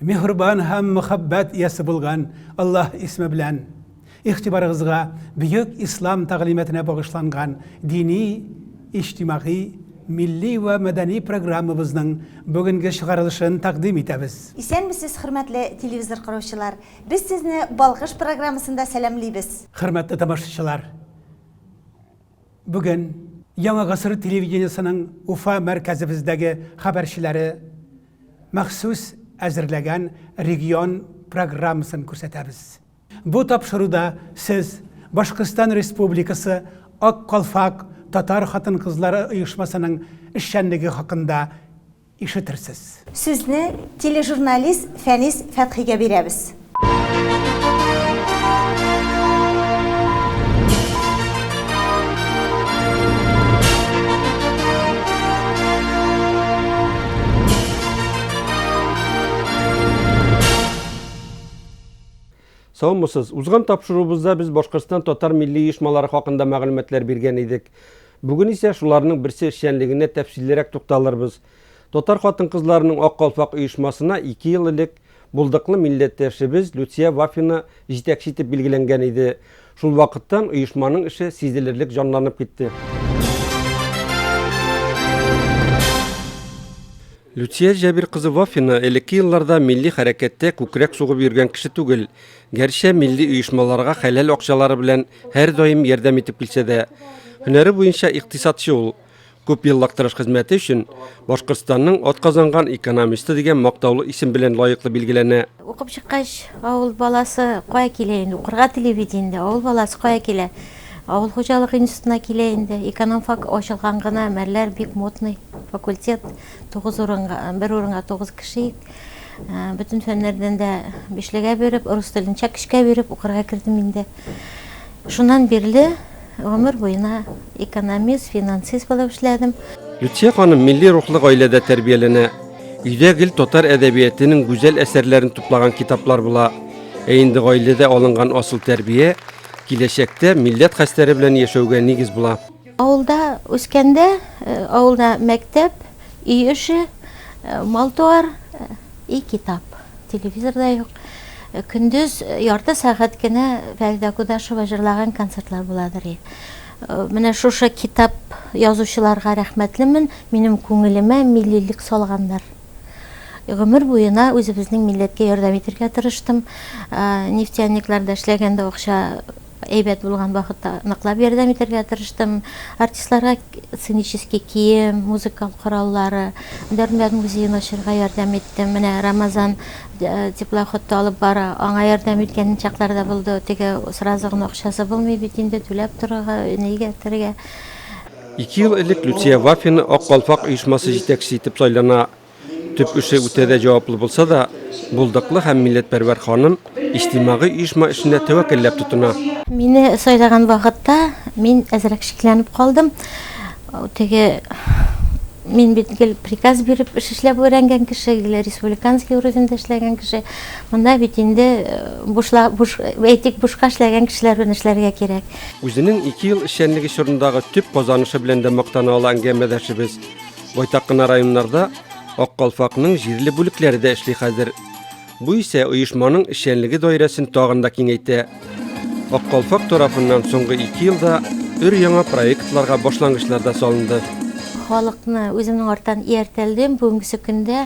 Миһрбан һәм мөхәббәт иясе булган Аллаһ исеме белән игътибарыгызга бөек ислам тәгълиматына багышланган дини, иҗтимагый, милли вә мәдәни программабызның бүгенге чыгарылышын тәкъдим итәбез. Исәнмесез, хөрмәтле телевизор караучылар! Без сезне Балкыш программасында сәламлибез! Хөрмәтле тамашачылар! Бүген Яңа гасыр телевидениесенең Уфа мәркәзебездәге хәбәрчеләре махсус әзерләгән регион программасын күрсәтәбез. Бу тапшыруда сез Башкортстан Республикасы Ак калфак татар хатын-кызлары оешмасының эшчәнлеге хакында ишетерсез. Сүзне тележурналист Фәнис Фәтхигә бирәбез. Саумысыз. Узган тапшыруыбызда без Башкортстан татар милли оешмалары хакында мәгълүматлар биргән идек. Бүген исә шуларның берсе эшчәнлегенә тәфсиллерәк тукталырбыз. Татар хатын-кызларының Ак калфак оешмасына ике ел элек булдыклы милләттәшебез Люция Вафина җитәкче итеп билгеләнгән иде. Шул вакыттан оешманың эше сизелерлек җанланып китте. Люция Җәбир кызы Вафина элекке елларда милли хәрәкәттә күкрәк сугып йөргән кеше түгел. Гәрчә милли оешмаларга хәләл акчалары белән һәрдаим ярдәм итеп килсә дә, һөнәре буенча икътисадчы ул. Күп еллык тырыш хезмәте өчен Башкортстанның атказанган экономисты дигән мактаулы исем белән лаеклы билгеләнә. Укып чыккач, авыл баласы кая килә инде, укырга тели бит инде, авыл баласы кая килә? Авыл хуҗалыгы институтына килә инде. Экономфак ачылган гына, мәлләр бик модный факультет. Тугыз урынга, бер урынга тугыз кеше ик. Бөтен фәннәрдән дә бишлегә биреп, урыс телен чак өчкә биреп укырга кердем инде. Шуннан бирле гомер буена экономист, финансист булып эшләдем. Люция ханым милли рухлы гаиләдә тәрбияләнә. Өйдә гел татар әдәбиятенең гүзәл әсәрләрен туплаган китаплар була. Ә инде гаиләдә алынган асыл тәрбия киләчәктә милләт хәстәре белән яшәүгә нигез була. Авылда үскәндә, авылда мәктәп, өй эше, мал-туар, и китап. Телевизор да юк. Көндез ярты сәгать кенә Фәридә Кудашева җырлаган концертлар буладыр. Менә шушы китап язучыларга рәхмәтлемен, минем күңелемә миллилек салганнар. Гомер буена үзебезнең милләткә ярдәм итәргә тырыштым. Нефтяникларда эшләгәндә акча Әйбәт булган вакытта ныклап ярдәм итәргә тырыштым. Артистларга сценический кием, музыкаль кораллары, Дәрдмәнд музеен ачырга ярдәм иттем. Менә Рамазан теплоходта алып бара, аңа ярдәм иткән чаклар да булды. Теге сразу гына акчасы булмый бит инде, түләп торырга, өйне игәртергә. Ике ел элек Люция Вафина Ак калфак оешмасы җитәкчесе итеп сайлана. Төп эше үтә дә җаваплы булса да, булдыклы һәм милләтпәрвәр ханым иҗтимагый оешма эшенә тәвәккәлләп тотына. Мине сайлаган вакытта мин әзрәк шикләнеп калдым. Теге мин бит гел приказ биреп эш эшләп өйрәнгән кеше, гел республиканский уровеньда эшләгән кеше. Монда бит инде э, бушла, буш, әйтик, бушка эшләгән кешеләр белән эшләргә кирәк. Үзенең ике ел эшчәнлеге чорындагы төп казанышы белән дә мактана ала әңгәмәдәшебез. Байтак кына районнарда Ак калфакның җирле бүлекләре дә эшли хәзер. Бу исә оешманың эшчәнлеге даирәсен тагын да киңәйтә. Ак калфак тарафыннан соңгы ике елда өр-яңа проектларга башлангычлар да салынды. Халыкны үземнең арттан ияртәлдем. Бүгенгесе көндә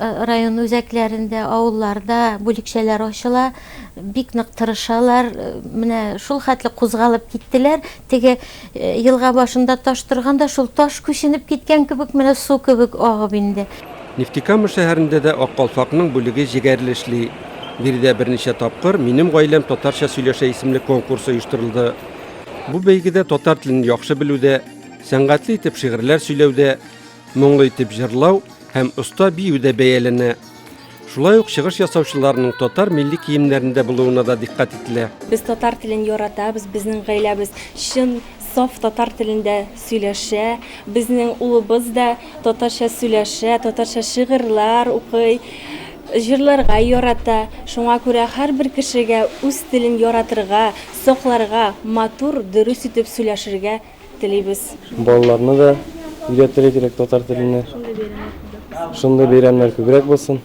Район үзәкләрендә, авылларда бүлекчәләр ачыла. Бик нык тырышалар. Менә шул хәтле кузгалып киттеләр. Теге елга башында таш торганда, шул таш күченеп киткән кебек, менә су кебек агып инде. Нефтекама шәһәрендә дә Ак калфакның бүлеге җегәрле эшли. Биредә берничә тапкыр Минем гаиләм татарча сөйләшә исемле конкурс оештырылды. Бу бәйгедә татар телен яхшы белүдә, сәнгатьле итеп шигырьләр сөйләүдә, Моңлы итеп җырлау һәм оста бию дә бәяләнә. Шулай ук чыгыш ясаучыларның татар милли киемнәрендә булуына да дикъкать ителә. Без татар телен яратабыз, безнең гаиләбез чын, саф татар телендә сөйләшә. Безнең улыбыз да татарча сөйләшә, татарча шигырьләр укый, җырларга ярата. Шуңа күрә һәрбер кешегә үз телен яратырга, сакларга, матур, дөрес итеп сөйләшергә телибез. Балаларны да өйрәтергә кирәк татар телене. Шундый бәйрәмнәр күбрәк булсын.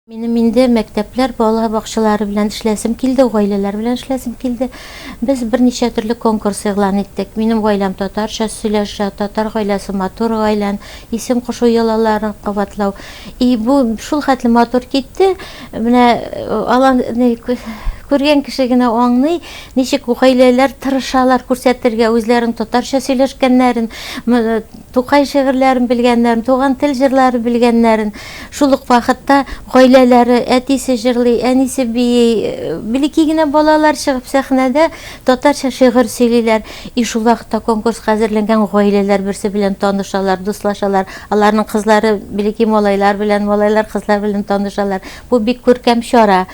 Минем инде мәктәпләр, балалар бакчалары белән эшләсем килде, гаиләләр белән эшләсем килде. Без берничә төрле конкурс игълан иттек. Минем гаиләм татарча сөйләшә, татар гаиләсе матур гаилән, исем кушу йолаларын кабатлау. И бу шул хәтле матур китте. Менә алан күргән кеше генә аңлый, Ничек гаиләләр тырышалар күрсәтергә үзләрен татарча сөйләшкәннәрен, Тукай шигырьләрен белгәннәрен, туган тел җырлары белгәннәрен. Шул ук вакытта гаиләләре, әтисе җырлый, әнисе бии, блеки генә балалар чыгып сәхнәдә татарча шигырь сөйлиләр. И шул вакытта конкурска әзерләнгән гаиләләр берсе белән танышалар, дуслашалар, аларның кызлары блеки малайлар белән, малайлар кызлар белән танышалар. Бу бик күркәм чара.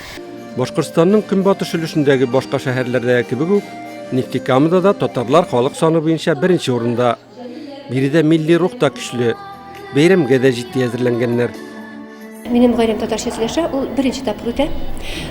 Башкортстанның көнбатыш өлешендәге башка шәһәрләрдәге кебек үк, Нефтекамада да татарлар халык саны буенча беренче урында. Биредә милли рух та көчле. Бәйрәмгә дә җитди әзерләнгәннәр. Минем гаиләм татарча сөйләшә, ул беренче тапкыр үтә.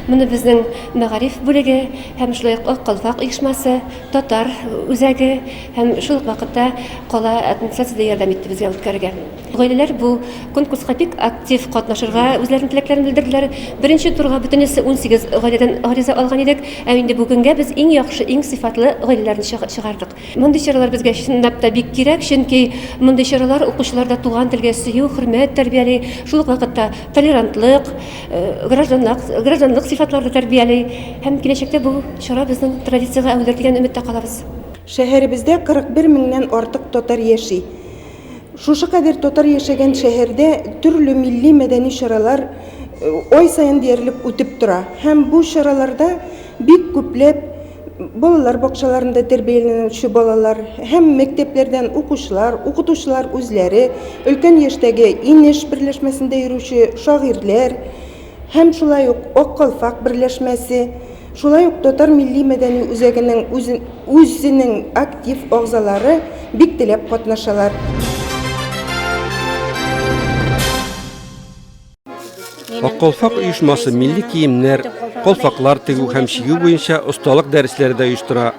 Моны безнең мәгариф бүлеге һәм шулай ук Ак калфак оешмасы, татар үзәге һәм шул ук вакытта кала администрациясе дә ярдәм итте безгә үткәрергә. Гаиләләр бу конкурска бик актив катнашырга үзләренең теләкләрен белдерделәр. Беренче турга бөтенесе унсигез гаиләдән гариза алган идек, ә инде бүгенгә без иң яхшы, иң сыйфатлы гаиләләрне чыгардык. Мондый чаралар безгә чынлап та бик кирәк, чөнки мондый чаралар укучыларда туган телгә сөю, хөрмәт тәрбияли, шул ук вакытта толерантлык, гражданлык сыйфатларны тәрбияли һәм киләчәктә бу чара безнең традициягә әверелер дигән өметтә калабыз. Шәһәребездә 41 меңнән артык татар яши. Шушы кадәр татар яшәгән шәһәрдә төрле милли-мәдәни чаралар ай саен диярлек үтеп тора. Һәм бу чараларда бик күпләп балалар бакчаларында тәрбияләнүче балалар һәм мәктәпләрдән укучылар, укытучылар үзләре, өлкән яшьтәге Инеш берләшмәсендә йөрүче шагыйрьләр, һәм шулай ук Ак калфак берләшмәсе, шулай ук Татар милли-мәдәни үзәгенең үзенең актив агъзалары бик теләп катнашалар. Ак калфак оешмасы милли киемнәр, калфаклар тегү һәм чигү буенча осталык дәресләре дә оештыра.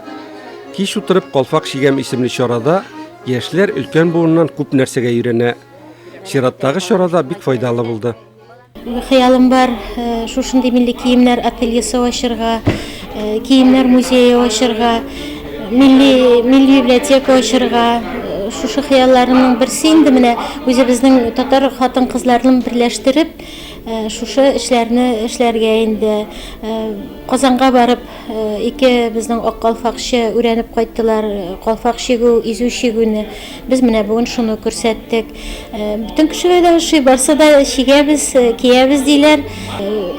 Кич утырып калфак чигәм исемле чарада яшьләр өлкән буыннан күп нәрсәгә өйрәнә. Чираттагы чарада бик файдалы булды. Бер хыялым бар, э, шушындый милли киемнәр ательесе ачырга, э, киемнәр музее ачырга, милли милли библиотека ачырга. Э, Шушы хыялларымның берсе инде менә үзебезнең татар хатын-кызларын берләштереп, э, шушы эшләрне эшләргә инде. Э, Казанга барып, э, ике безнең ак калфакчы өйрәнеп кайттылар, э, калфак чигү, изү чигүне. Без менә бүген шуны күрсәттек. Бүтән кешеләр дә ошый, барса да чигәбез, киябез диләр.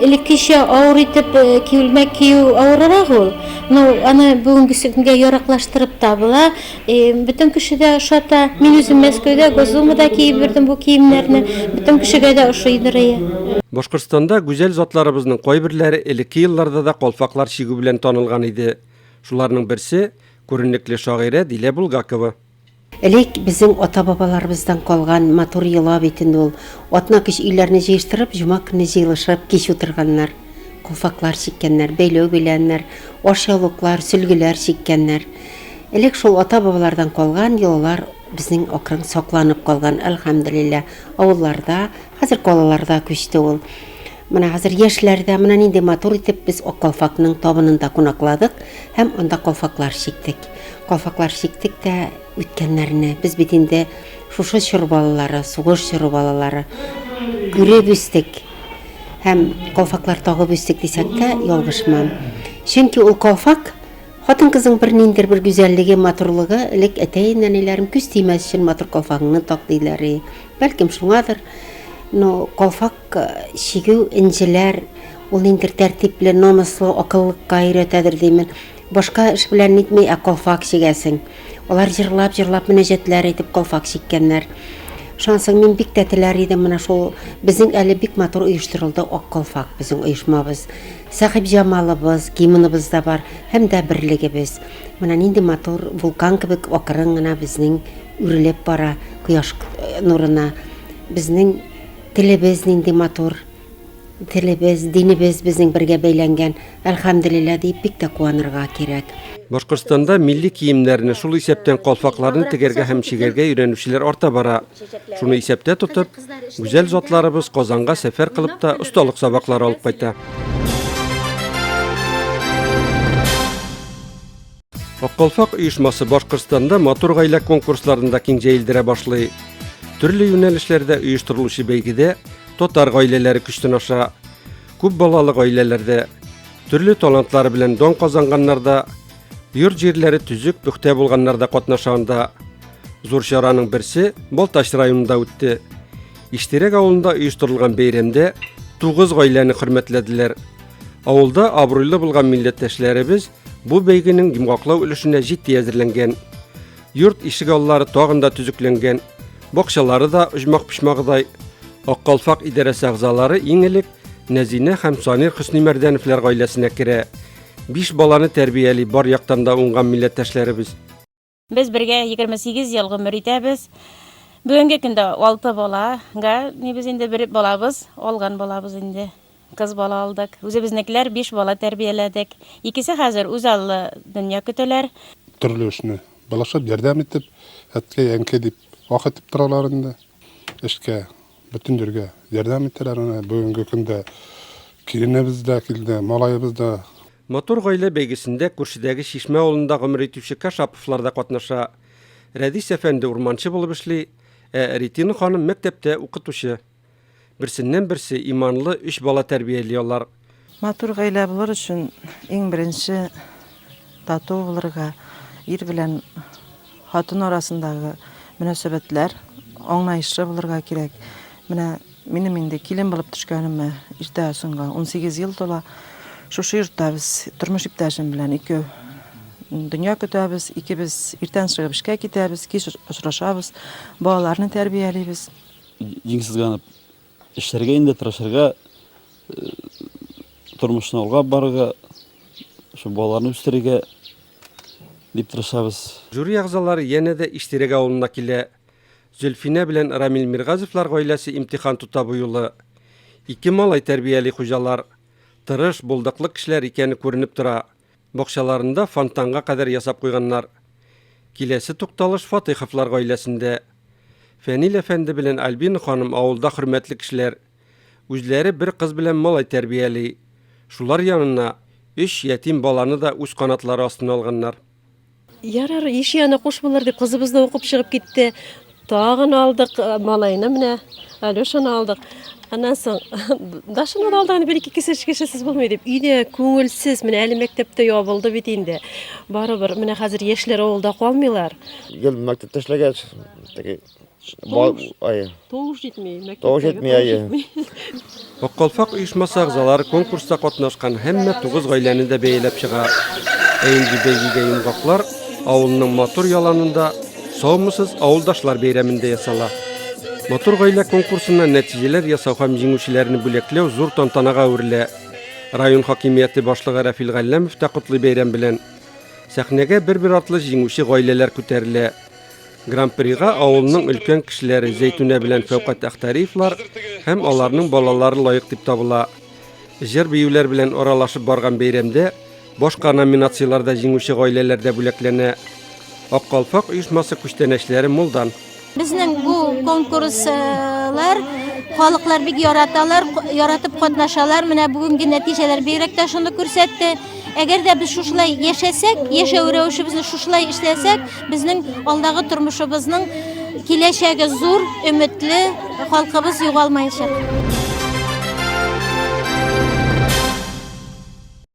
Элеккечә авыр итеп киюлмәк кию авырырак ул. Ну, аны бүгенге көнгә яраклаштырып табыла. Бүтән кеше дә ошата. Мин үзем Мәскәүдә, Госдумада киеп йөрдем бу киемнәрне. Бүтән кешегә дә ошый дөрәя. Башкортстанда гүзәл затларыбызның кайберләре элекке елларда да калфаклар чигү белән танылган иде. Шуларның берсе, күренекле шагыйрә Дилә Булгакова. Элек безнең ата-бабаларыбыздан калган матур йола бит инде ул. Атна-кич өйләрне җыештырып, җома көнне җыелышып, кич утырганнар. Калфаклар чиккәннәр, бәйләү бәйләннәр, ашъяулыклар, сөлгеләр чиккәннәр. Элек шул ата-бабалардан калган йолалар безнең акрын сакланып калган, әлхәмделилла. Авылларда, хәзер калаларда күчте ул. Менә хәзер яшьләр дә менә нинди матур итеп без Ак калфакның табынында кунакладык һәм анда калфаклар чиктек. Калфаклар чиктек тә үткәннәрне, без бит инде шушы чор балалары, сугыш чоры балалары күреп үстек һәм калфаклар тагып үстек дисәк тә ялгышмам. Чөнки ул калфак хатын-кызның бер ниндер бер гүзәллеге, матурлыгы, элек әтәй-нәниләрем күз тимәс өчен матур калфагыңны так диләр. Бәлкем шуңадыр, но калфак Чигү, энҗеләр, ул ниндидер тәртипле, намуслы, акыллыкка өйрәтәдер димен. Башка эш белән нитми, ә калфак чигәсең. Алар җырлап-җырлап мөнәҗәтләр әйтеп калфак чиккәннәр. Шансың мин бик тә теләр идем менә шул безнең әле бик матур оештырылды Ак калфак безнең оешмабыз. Сәхип Җамалыбыз, гимныбыз да бар һәм дә берлегебез. Менә нинди матур вулкан кебек акрын гына безнең үрелеп бара кояш э, нурына. Безнең Телебез нинди матур, телебез, динебез безнең бергә бәйләнгән, әлхәмделилла диеп бик тә куанырга кирәк. Башкортстанда милли киемнәрне, шул исәптән калфакларны тегәргә һәм чигәргә өйрәнүчеләр арта бара. Шуны исәптә тотып, гүзәл затларыбыз Казанга сәфәр кылып та осталык сабаклары алып кайта. Аккалфак оешмасы Башкортстанда матур гаилә конкурсларында киң җәелдерә башлый. Төрле юнәлешләрдә оештырылучы бәйгедә татар гаиләләре көчтен аша. Күп балалы гаиләләрдә, төрле талантлары белән дан казанганнарда, йорт җирләре төзек, пөхтә булганнарда катнаша анда. Зур чараның берсе Балтач районында үтте. Иштирәк авылында оештырылган бәйрәмдә тугыз гаиләне хөрмәтләделәр. Авылда абруйлы булган милләттәшләребез Бу бәйгенең йомгаклау өлешенә җитди әзерләнгән. Йорт ишек аллары тагын да төзекләнгән. Бакчалары да оҗмак-почмагыдай. Аккалфак идарәсе әгъзалары иң элек Нәзинә һәм Санир Хөснимәрдәновлар гаиләсенә керә. Биш баланы тәрбияли бар яктан да уңган милләттәшләребез. Без бергә егерме сигез ел гомер итәбез. Бүгенге көндә алты бала га ни без инде бер балабыз алган балабыз инде. Кыз бала алдык. Үзебезнекеләр биш бала тәрбияләдек. Икесе хәзер үзаллы дөнья көтәләр. Төрле эшне былышып, ярдәм итеп, әткәй, әнкәй дип ах итеп торалар инде. Эшкә, бөтен җиргә ярдәм итәләр. Менә бүгенге көндә киленебез дә килде, малаебыз да. Матур гаилә бәйгесендә күршедәге Чишмә авылында гомер итүче Кашаповлар да катнаша. Рәдис әфәнде урманчы булып эшли, ә Ретина ханым мәктәптә укытучы. Берсеннән-берсе иманлы өч бала тәрбияли алар. Матур гаилә булыр өчен иң беренче тату булырга, ир белән хатын арасындагы мөнәсәбәтләр аңлаешлы булырга кирәк. Менә Минем инде килен булып төшкәнемә иртә соңга унсигез ел тола. Шушы йортта без тормыш иптәшем белән ике дөнья көтәбез. Икебез иртән чыгып эшкә китәбез, кич очрашабыз, балаларны тәрбиялибез. Җиң сызганып эшләргә инде тырышырга, тормышны алга барырга, шул балаларны үстерергә дип тырышабыз. Жюри әгъзалары янә дә Иштирәк авылына килә. Зөлфинә белән Рамил Миргазевлар гаиләсе имтихан тота бу юлы. Ике малай тәрбияли хуҗалар. Тырыш, булдыклы кешеләр икәне күренеп тора. Бакчаларында фонтанга кадәр ясап куйганнар. Киләсе тукталыш Фатыйховлар гаиләсендә. Фәнил әфәнде белән Альбина ханым авылда хөрмәтле кешеләр. Үзләре бер кыз белән малай тәрбияли. Шулар янына өч ятим баланы да үз канатлары астына алганнар. Ярар, еш яна куш булыр дип кызыбыз да укып чыгып китте. Тагын алдык э, малайны менә, Алешаны алдык. Аннан соң Дашаны да алдык, бер-ике кеше кешесез булмый дип. Өйдә күңелсез, менә әле мәктәптә ябылды бит инде. Барыбер, менә хәзер яшьләр авылда калмыйлар. Гел мәктәптә эшләгәч, теге Тавыш, әйе. Тавыш җитми, мәктәптә. Тавыш җитми, әйе. Аккалфак оешмасы агзалары конкурста катнашкан һәммә тугыз гаиләне дә бәяләп чыга. Ә инде бәйгегә йомгаклар авылның матур яланында Саумысыз авылдашлар бәйрәмендә ясала. Матур гаилә конкурсына нәтиҗәләр ясау һәм җиңүчеләрне бүләкләү зур тантанага әверелә. Район хакимияте башлыгы Рафил Галләмов та котлый бәйрәм белән. Сәхнәгә бер-бер артлы җиңүче гаиләләр күтәрелә. Гран-прига авылның өлкән кешеләре Зәйтүнә белән Фәүкат Әхтәриевлар һәм аларның балалары лаек дип табыла. Җыр-биюләр белән аралашып барган бәйрәмдә башка номинацияләрдә җиңүче гаиләләр дә бүләкләнә. Ак калфак оешмасы күчтәнәчләре Мулдан. Безнең бу конкурслар халыклар бик яраталар, яратып катнашалар. Менә бүгенге нәтиҗәләр бигрәк тә шуны күрсәтте. Әгәр дә без шушылай яшәсәк, яшәү рәвешебезне шушылай эшләсәк, безнең алдагы тормышыбызның киләчәге зур, өметле, халкыбыз югалмаячак.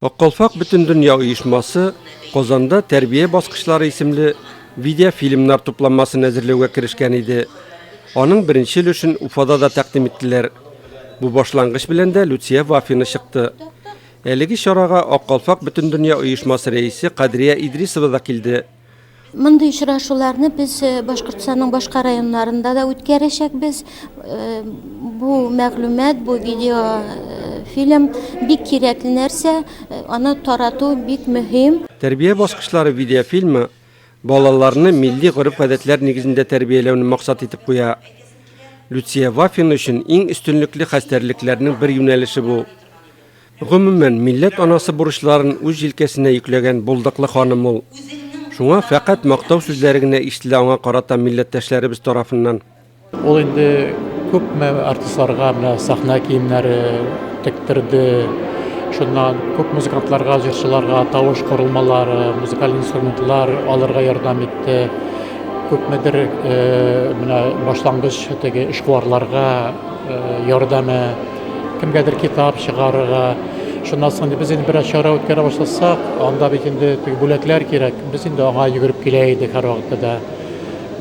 Аккалфак бөтендөнья оешмасы Казанда тәрбия баскычлары исемле видеофильмнар тупланмасын әзерләүгә керешкән иде. Аның беренче өлешен Уфада да тәкъдим иттеләр. Бу башлангыч белән дә Люция Вафина чыкты. Әлеге чарага Ак калфак Бөтендөнья оешмасы рәисе Кадрия Идрисова да килде. Мондый очрашуларны без э, Башкортстанның башка районнарында да үткәрәчәкбез. Э, бу мәгълүмат, бу видео э, фильм бик кирәкле нәрсә, аны тарату бик мөһим. Тәрбия баскычлары видеофильмы балаларны милли гореф-гадәтләр нигезендә тәрбияләүне максат итеп куя. Люция Вафин өчен иң өстенлекле хәстәрлекләрнең бер юнәлеше бу. Гомумән, милләт анасы бурычларын үз җилкәсенә йөкләгән булдыклы ханым ул. Шуңа фәкать мактау сүзләре генә ишетелә аңа карата милләттәшләребез тарафыннан. Ул инде күпме артистларга менә сәхнә киемнәре тектерде, шуннан күп музыкантларга, җырчыларга тавыш корылмалары, музыкаль инструментлар алырга ярдәм итте. Күпмедер менә башлангыч теге эшкуарларга ярдәме. Кемгәдер китап чыгарырга, шуннан соң без инде бераз чара үткәрә башласак, анда бит инде теге бүләкләр кирәк. Без инде аңа йөгереп килә идек һәр вакытта да.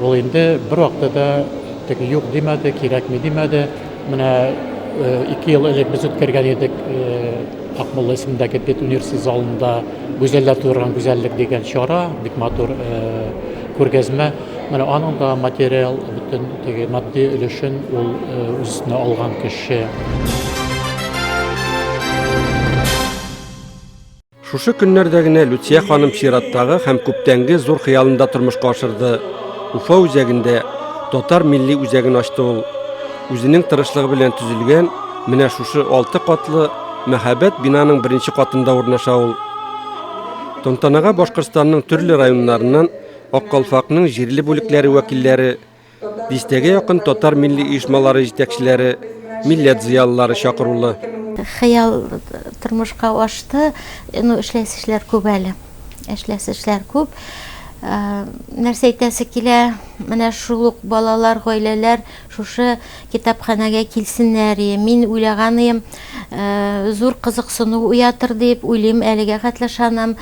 Ул инде бер вакытта да теге юк димәде, кирәкми димәде. Менә э, ике ел элек без үткәргән идек э, Акмулла исемендәге бит университет залында Гүзәлләр тудырган гүзәллек дигән чара, бик матур э, күргәзмә. Менә аның да материал бөтен теге матди өлешен ул үзенә алган кеше. Шушы көннәрдә генә Люция ханым чираттагы һәм күптәнге зур хыялында тормышка ашырды. Уфа үзәгендә татар милли үзәген ачты ул. Үзенең тырышлыгы белән төзелгән менә шушы алты катлы мәһабәт бинаның беренче катында урнаша ул. Тантанага Башкортстанның төрле районнарыннан Ак калфакның җирле бүлекләре вәкилләре, дистәгә якын татар милли оешмалары җитәкчеләре, милләт зыялылары чакырулы. Хыял тормышка ашты. Ну, эшләсе эшләр күп әле. Эшләсе эшләр күп. Ә, нәрсә әйтәсе килә? Менә шул ук балалар, гаиләләр шушы китапханәгә килсеннәр. Е, мин уйлаганым, ә, зур кызыксыну уятыр дип уйлыйм, әлегә хәтле ышанам.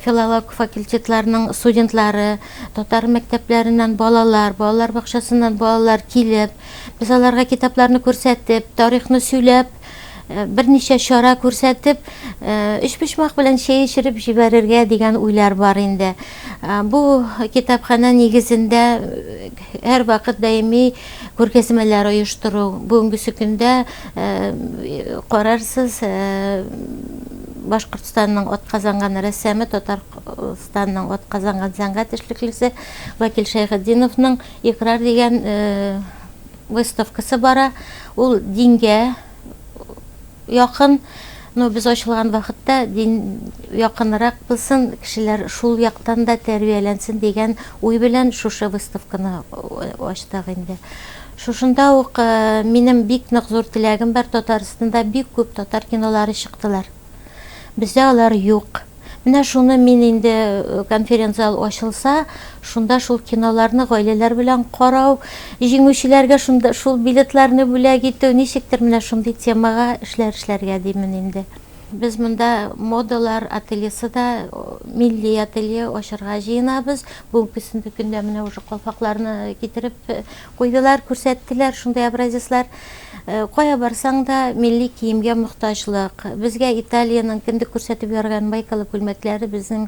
Филолог факультетларының студентлары, татар мәктәпләреннән балалар, балалар бакчасыннан балалар килеп, без аларга китапларны күрсәтеп, тарихны сөйләп, Э, берничә чара күрсәтеп э, өчпочмак белән чәй эчереп җибәрергә дигән уйлар бар инде э, бу китапханә нигезендә Һәрвакыт даими күргәзмәләр оештыру. Бүгенгесе көндә карарсыз Башкортстанның атказанган рәссамы, Татарстанның атказанган сәнгать эшлеклесе Вакил Шәйхетдиновның Икрар дигән выставкасы бара. Ул дингә якын, но без ачылган вакытта дин якынрак булсын, кешеләр шул яктан да тәрбияләнсен дигән уй белән шушы выставканы ачтык инде. Шушында ук минем бик нык зур теләгем бар, Татарстанда бик күп татар кинолары чыктылар. Бездә алар юк. Менә шуны мин инде э, конференц-зал ачылса, шунда шул киноларны гаиләләр белән карау, җиңүчеләргә шунда шул билетларны бүләк итү, ничектер менә шундый темага эшләр эшләргә димен инде. Без монда модалар ательесы да, милли ателье ачарга җыенабыз. Бүгенге көндә менә уже калфакларны китереп э, Куйдылар, күрсәттеләр шундый образецлар. Кая барсаң да, милли киемгә мохтаҗлык. Безгә Италиянең кендек күрсәтеп ярган майкалы күлмәкләре безнең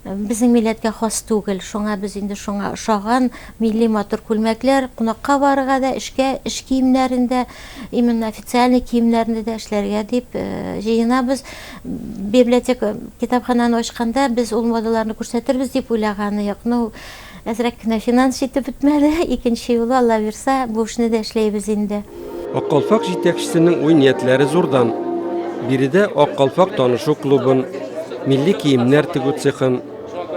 безнең милләткә хас түгел. Шуңа без инде шуңа ошаган милли матур күлмәкләр, кунакка барырга да, эшкә, эш киемнәрен дә, именно официальный киемнәрне дә эшләргә дип җыенабыз. Библиотека, китапханәне ачканда, без ул модаларны күрсәтербез дип уйлаганы юк. Ну, Әзрәк кенә финанс җитеп бетмәде, икенче юлы, Аллабирса, бу эшне дә эшләйбез инде. Ак калфак җитәкчесенең уй-ниятләре зурдан. Биредә Ак калфак танышу клубын, милли киемнәр тегү цехын,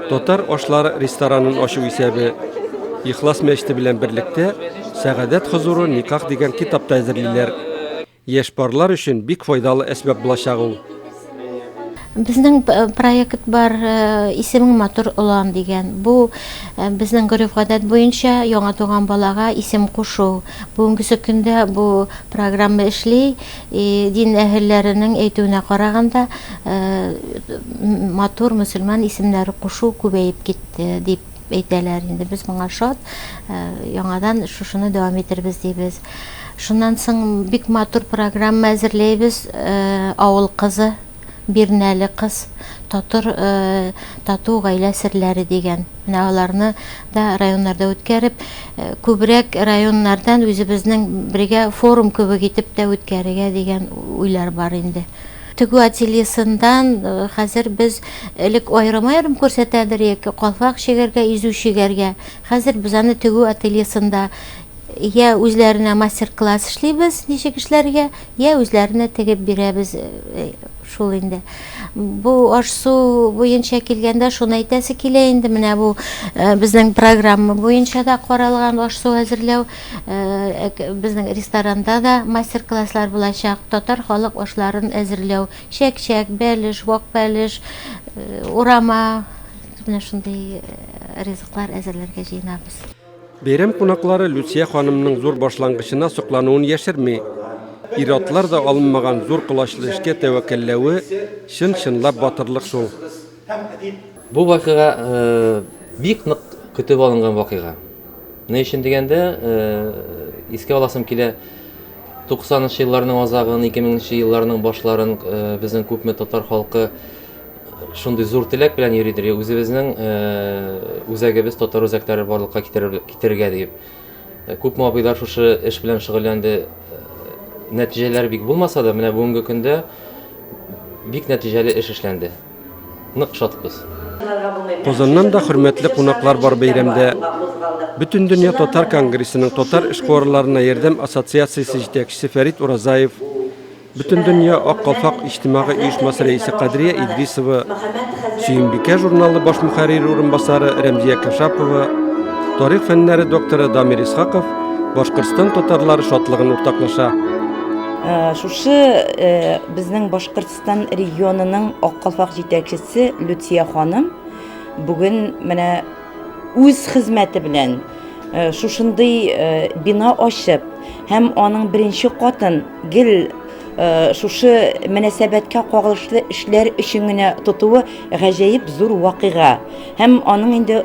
Татар ашлары ресторанын ачу исәбе. Ихлас мәчете белән берлектә Сәгадәт хозуры никах дигән китап та әзерлиләр. Яшь парлар өчен бик файдалы әсбап булачак ул. Безнең проект бар, исемең матур олан дигән. Бу безнең гореф-гадәт буенча яңа туган балага исем кушу. Бүгенгесе көндә бу программа эшли. Дин әһелләренең әйтүенә караганда, матур мөселман исемнәре кушу күбәеп китте, дип әйтәләр инде без моңа шат э, яңадан шушыны дәвам итәрбез дибез шуннан соң бик матур программа әзерләйбез э, авыл кызы бирнәле кыз татыр э, тату гаилә серләре дигән менә аларны да районнарда үткәреп күбрәк районнардан үзебезнең бергә форум кебек итеп тә үткәрергә дигән уйлар бар инде Тегү ательесындан хәзер без элек аерым-аерым күрсәтәдерек, калфак чигәргә, изү чигәргә. Хәзер без аны тегү ательесында йә үзләренә мастер-класс эшлибез, ничек эшләргә, йә үзләренә тегеп бирәбез. Шул инде. Бу аш-су буенча килгәндә, шуны әйтәсе килә инде, менә бу безнең программа буенча да каралган аш-су әзерләү. Безнең ресторанда да мастер-класслар булачак, татар халык ашларын әзерләү, чәк-чәк, бәлеш, вак бәлеш, урама, менә шундый ризыклар әзерләргә җыенабыз. Бәйрәм кунаклары Люция ханымның зур башлангычына соклануын яшерми. Ир-атлар да алынмаган зур колачлы эшкә тәвәккәлләве, чын-чынлап батырлык шул. һәм әдип. Бу вакыйга бик нык көтеп алынган вакыйга. Ни өчен дигәндә, искә аласым килә, 90 нчы елларның азагын, 2000 нче елларның башларын безнең күпме татар халкы шундый зур теләк белән йөридер, үзебезнең үзәгебез татар үзәкләре барлыкка китерергә диеп. Күпме абыйлар шушы эш белән шөгыльләнде. Нәтиҗәләре бик булмаса да, менә бүгенге көндә бик нәтиҗәле эш эшләнде. Нык шатбыз. Казаннан да хөрмәтле кунаклар бар бәйрәмдә. Бөтендөнья татар конгрессының татар эшкуарларына ярдәм ассоциациясе җитәкчесе Фәрит Уразаев, Бөтендөнья Ак калфак иҗтимагый оешмасы рәисе Кадрия Идрисова, Сөембикә журналы баш мөхәррире урынбасары Рәмзия Кашапова, тарих фәннәре докторы Дамир Исхаков Башкортстан татарлары шатлыгын уртаклаша. Э, шушы э, безнең Башкортстан регионының Ак калфак җитәкчесе Люция ханым бүген менә үз хезмәте белән шушындый бина ачып һәм аның беренче катын гел шушы мөнәсәбәткә кагылышлы эшләр өчен генә тотуы гаҗәеп зур вакыйга һәм аның инде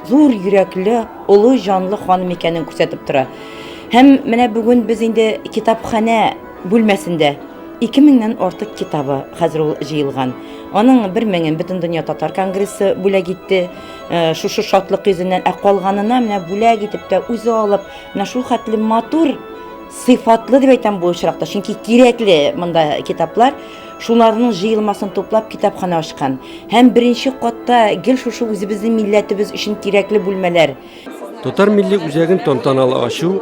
зур йөрәкле олы җанлы ханым икәнен күрсәтеп тора һәм менә бүген без инде китапханә бүлмәсендә ике меңнән артык китабы хәзер ул җыелган аның бер меңен бөтен дөнья татар конгрессы бүләк итте Э, шушы шатлык йөзеннән ә калганына менә бүләк итеп тә үзе алып менә шул хәтле матур сыйфатлы дип әйтәм бу очракта чөнки кирәкле монда китаплар шуларның җыелмасын туплап китапхана ачкан һәм беренче катта гел шушы үзебезнең милләтебез өчен кирәкле бүлмәләр татар милли үзәген тантаналы ачу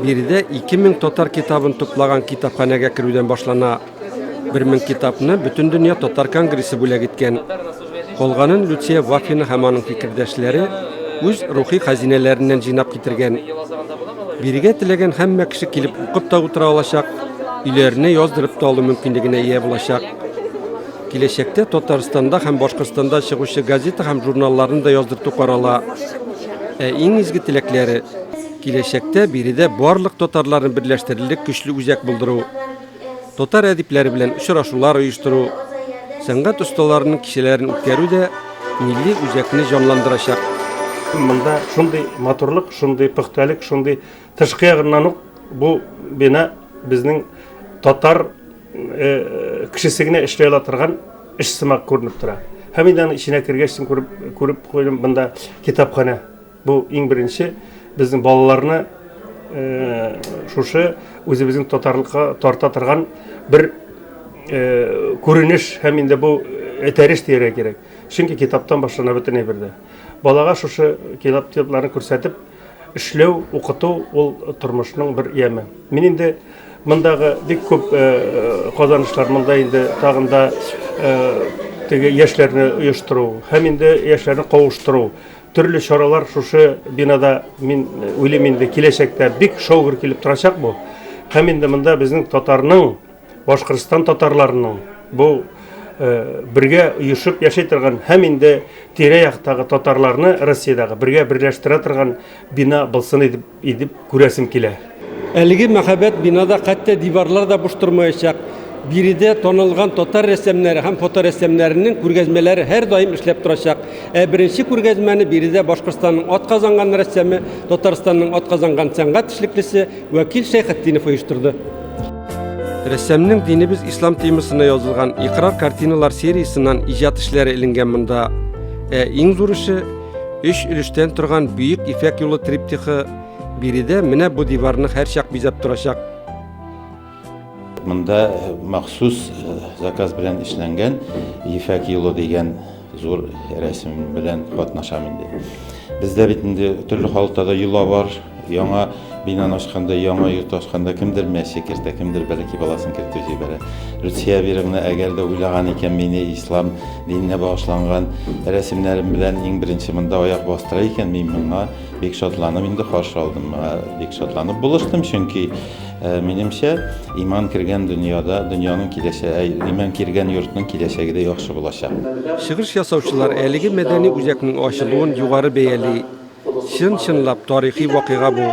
биредә 2000 татар китабын туплаган китапханәгә керүдән башлана Бер мең китапны бөтен дөнья татар конгрессы бүләк иткән. Калганын Люция Вафина һәм аның фикердәшләре үз рухи хәзинәләреннән җыйнап китергән. Бирегә теләгән һәммә кеше килеп укып та утыра алачак, өйләренә яздырып та алу мөмкинлегенә ия булачак. Киләчәктә Татарстанда һәм Башкортстанда чыгучы газета һәм журналларны да яздырту карала. Ә иң изге теләкләре киләчәктә биредә барлык татарларны берләштерерлек көчле үзәк булдыру. татар әдипләре белән очрашулар оештыру, сәнгать осталарының кичәләрен үткәрү дә милли үзәкне җанландырачак. Монда шундый матурлык, шундый пөхтәлек, шундый тышкы ягыннан ук бу бина безнең татар э, кешесе генә эшли ала торган эш сымак күренеп тора. Һәм инде аны эченә кергәч, күреп күреп куйдым, монда китапханә Бу иң беренче безнең балаларны шушы үзебезнең татарлыкка тарта торган бер күренеш һәм инде бу этәреш дияргә кирәк. Чөнки китаптан башлана бөтен әйбер дә. Балага шушы китап китапларын күрсәтеп эшләү, укыту ул тормышның бер яме. Мин инде мондагы бик күп казанышлар монда инде тагын да теге яшьләрне оештыру һәм инде яшьләрне кавыштыру Төрле чаралар шушы бинада, мин уйлыйм инде, киләчәктә бик шаугыр килеп торачак бу. Һәм инде монда безнең татарның, Башкортстан татарларының бу Э, бергә оешып яши торган һәм инде тирә-яктагы татарларны Россиядәге бергә берләштерә торган бина булсын дип Идеп күрәсем килә. Әлеге мәһабәт бинада хәтта диварлар да буш тормаячак. Биредә танылган татар рәссамнары һәм фоторәссамнарының күргәзмәләре һәрдаим эшләп торачак. Ә беренче күргәзмәне биредә Башкортстанның атказанган рәссамы, Татарстанның атказанган сәнгать эшлеклесе Вәкил Шәйхетдинов оештырды. Рәссамның динебез ислам темасына язылган Икрар картиналар сериясеннән иҗат эшләре эленгән монда. Ә иң зур эше Өч өлештән торган Бөек Ифәк юлы триптихы биредә менә бу диварны һәрчак бизәп торачак. Монда э, махсус э, заказ белән эшләнгән Ефәк юлы дигән зур рәсем белән катнашам инде. Бездә бит инде төрле халыкта да йола бар, Яңа бинаны ачканда, яңа йорт ачканда кемдер мәче кертә, кемдер бәләки баласын кертеп җибәрә. Люция Абировна әгәр дә уйлаган икән мине ислам диненә багышланган рәсемнәрем белән иң беренче монда аяк бастыра икән, мин моңа бик шатланып инде каршы алдым. Моңа бик шатланып булыштым, чөнки э, минемчә иман кергән дөньяда, дөньяның киләчәге, э, иман кергән йортның киләчәге дә яхшы булачак. Чыгыш ясаучылар әлеге мәдәни үзәкнең ачылуын югары бәяли. Чын-чынлап тарихи вакыйга бу.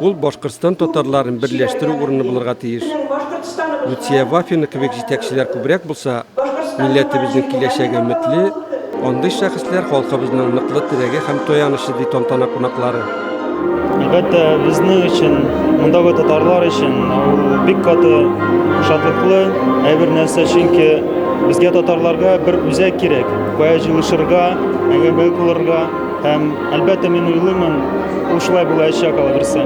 Ул Башкортстан татарларын берләштерү урыны булырга тиеш. Люция Вафина кебек җитәкчеләр күбрәк булса, милләтебезнең киләчәге өметле, андый шәхесләр халкыбызның ныклы терәге һәм таянычы, ди тантана кунаклары. Әлбәттә, безнең өчен, мондагы татарлар өчен ул бик каты шатлыклы әйбер нәрсә, чөнки безгә татарларга бер үзәк кирәк, кая җыелышырга, әңгәмә кылырга. Һәм, әлбәттә, мин уйлыймын, ул шулай булаячак, алаберсә.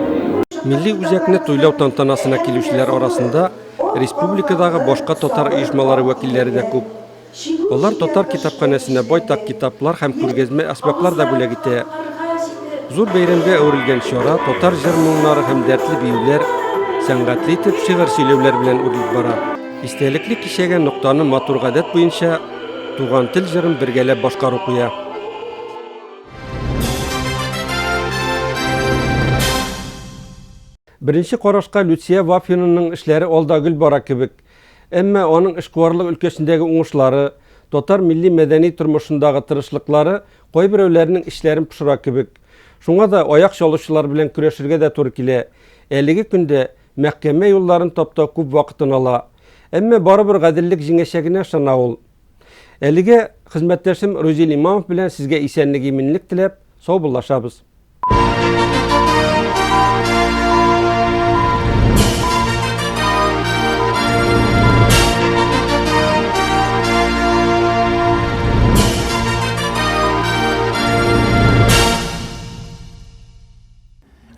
Милли үзәкне туйлау тантанасына килүчеләр арасында республикадагы башка татар оешмалары вәкилләре дә күп. Алар татар китапханәсенә байтак китаплар һәм күргәзмә әсбаплар да бүләк итә. Зур бәйрәмгә әверелгән чара татар җыр-моңнары һәм дәртле биюләр, сәнгатьле итеп шигырь сөйләүләр белән үрелеп бара. Истәлекле кичәгә ноктаны матур гадәт буенча Туган тел җырын бергәләп башкару куя. Беренче карашка Люция Вафинаның эшләре алда гөл бара кебек. Әмма аның эшкуарлык өлкәсендәге уңышлары, татар милли-мәдәни тормышындагы тырышлыклары кайберәүләрнең эчләрен пошыра кебек. Шуңа да аяк чалучылар белән көрәшергә дә туры килә. Әлеге көндә Мәхкәмә юлларын таптау күп вакытын ала. Әмма барыбер гаделлек җиңәчәгенә ышана ул. Әлегә хезмәттәшем Рузил Имамов белән сезгә исәнлек-иминлек теләп, саубуллашабыз.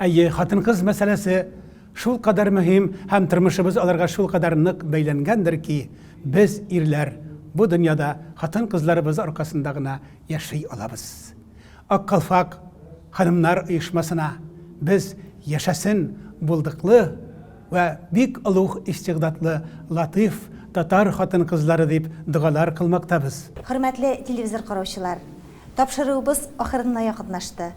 Әйе, хатын-кыз мәсьәләсе шулкадәр мөһим һәм тормышыбыз аларга шулкадәр нык бәйләнгәндер ки, без, ирләр, бу дөньяда хатын-кызларыбыз аркасында гына яши алабыз. Ак калфак ханымнар оешмасына без яшәсен булдыклы вә бик олуг истигъдадлы латыйф татар хатын-кызлары дип догалар кылмактабыз. Хөрмәтле телевизор караучылар, тапшыруыбыз ахырына якынлашты.